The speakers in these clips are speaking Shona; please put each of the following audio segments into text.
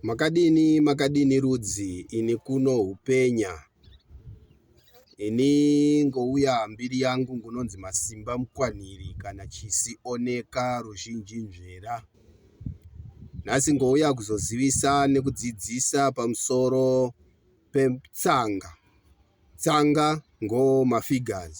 Makadini makadini rudzi ini kuno hupenya ini ngouya mbiri yangu ngunonzi masimba mukwanhiri kana chisi oneka ruzhinji nzvera nhasi ngouya kuzozivisa nekudzidzisa pamusoro petsanga tsanga ngo mafigures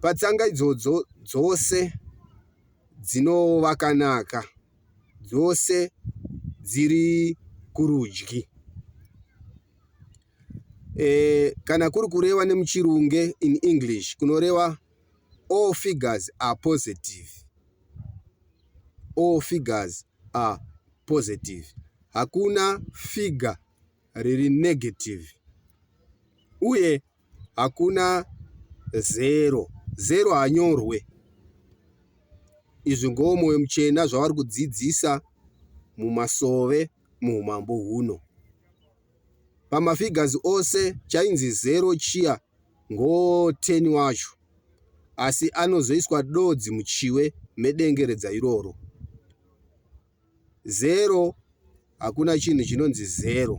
Patsanga idzodzo dzose dzinovakanaka dzose dziri kurudyi. E, kana kuri kureva nemuchirunge in English kunoreva all figures are positive. All figures are positive. Hakuna figure riri negative. Uye hakuna zero zero hanyorwe izvi ngowo mwoyo muchena zvavari kudzidzisa mumasove muumambo huno pamafigures ose chainzi zero chiya ngowo 10 wacho asi anozoiswa dodzi muchiwe medengeredza iroro zero hakuna chinhu chinonzi zero.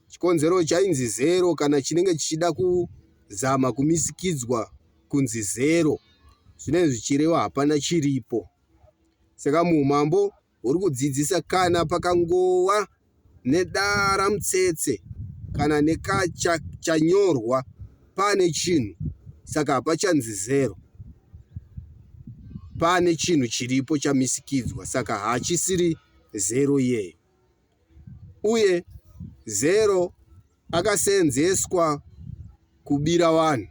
Chikonzero chainzi zero kana chinenge chichida kuzama kumisikidzwa kunzi zero zvinenge zvichireva hapana chiripo. Saka muumambo huri kudzidzisa kana pakangova nedara mutsetse kana neka cha chanyorwa pane chinhu saka hapachanzi zero pane chinhu chiripo chamisikidzwa saka hachisiri zero iyeyo uye zero akaseenzeswa kubira vanhu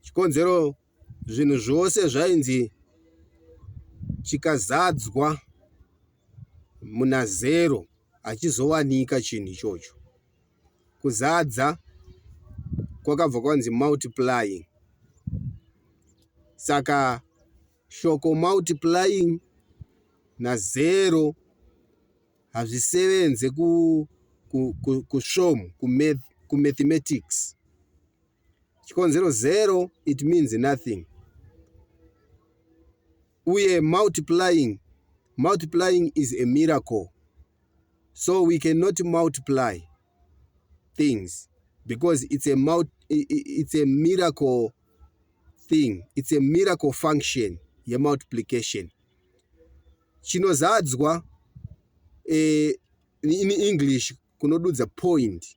chikonzero zvinhu zvose zvainzi chikazadzwa muna zero hachizowanika chinhu ichocho kuzadza kwakabva kwanzi multiplying saka shoko multiplying nazero hazvisevenze kusvomu kumathematics chikonzero zero it means nothing uye multiplying multiplying is a miracle so we cannot multiply things because it's a, multi, it's a miracle thing it's a miracle function yemultiplication chinozadzwa eh, in english kunodudza point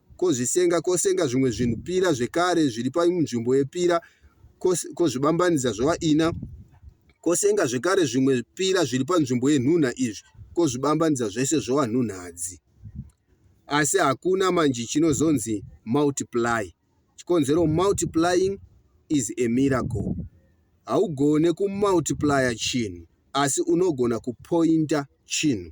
kozvisenga, kosenga zvimwe zvinhu pira zvekare zviri panzvimbo yepira, kozvibambanidza zvova ina, kosenga zvekare zvimwe pira zviri panzvimbo yenhunha izvi, kozvibambanidza zvese zvova nhunhadzi. Asi hakuna manje chinozonzi multiply. Chikonzero multiplying is a miracle. Haugone kumultiplya chinhu, asi unogona kupointa chinhu.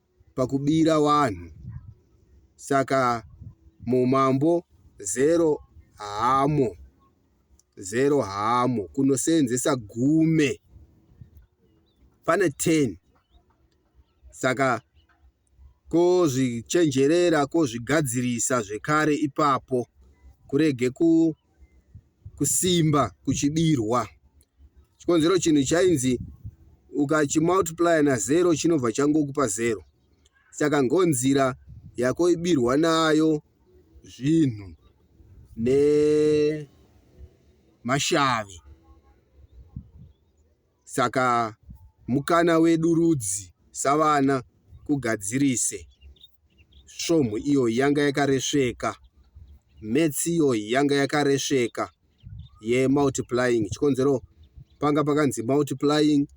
pakubira wanhu saka mumambo zero hamo zero hamo kunoseenzesa gume pane 10 saka kozvichenjerera kozvigadzirisa zvekare ipapo kurege ku kusimba kuchidirwa chikonzero chinhu chainzi ukachimultiplya nazero chinobva changokupa zero saka ngonzira yako ibirwa nayo zvinhu nemashavi Saka mukana wedu rudzi savana kugadzirise svomhu iyo yanga yakaresveka maths iyo yanga yakaresveka yemultiplying chikonzero panga pakanzi multiplying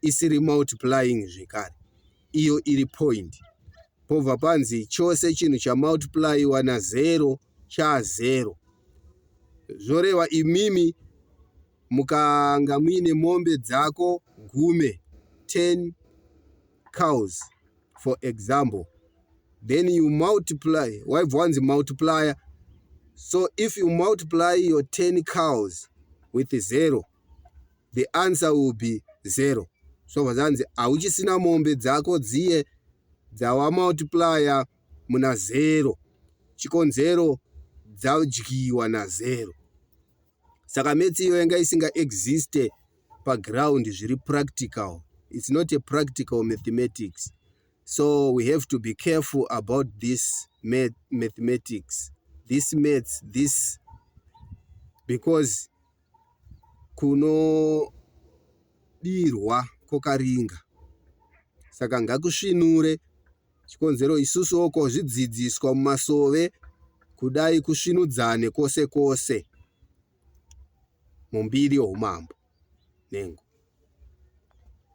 isiri multiplying zvekare iyo iri point pobva panzi chose chinhu chamultiplyiwa nazero chazero zvoreva imimi Mukanga muine mombe dzako gume, 10 cows for example, then you multiply, waibva wanzi multiplier. So if you multiply your 10 cows with zero, the answer will be zero. So vazanzi hauchisina mombe dzako dziye dzawamultiplier muna zero, chikonzero dzadyiwa nazero. saka maths iyo yanga isinga existe paground zviri practical it's not a practical mathematics so we have to be careful about this math, mathematics this maths this because kunodirwa kokaringa saka ngakusvinure Chikonzero isusuwo ko zvidzidziswa mumasove kudai kusvinudzane kwose kwose mumbiri youmambo nengo.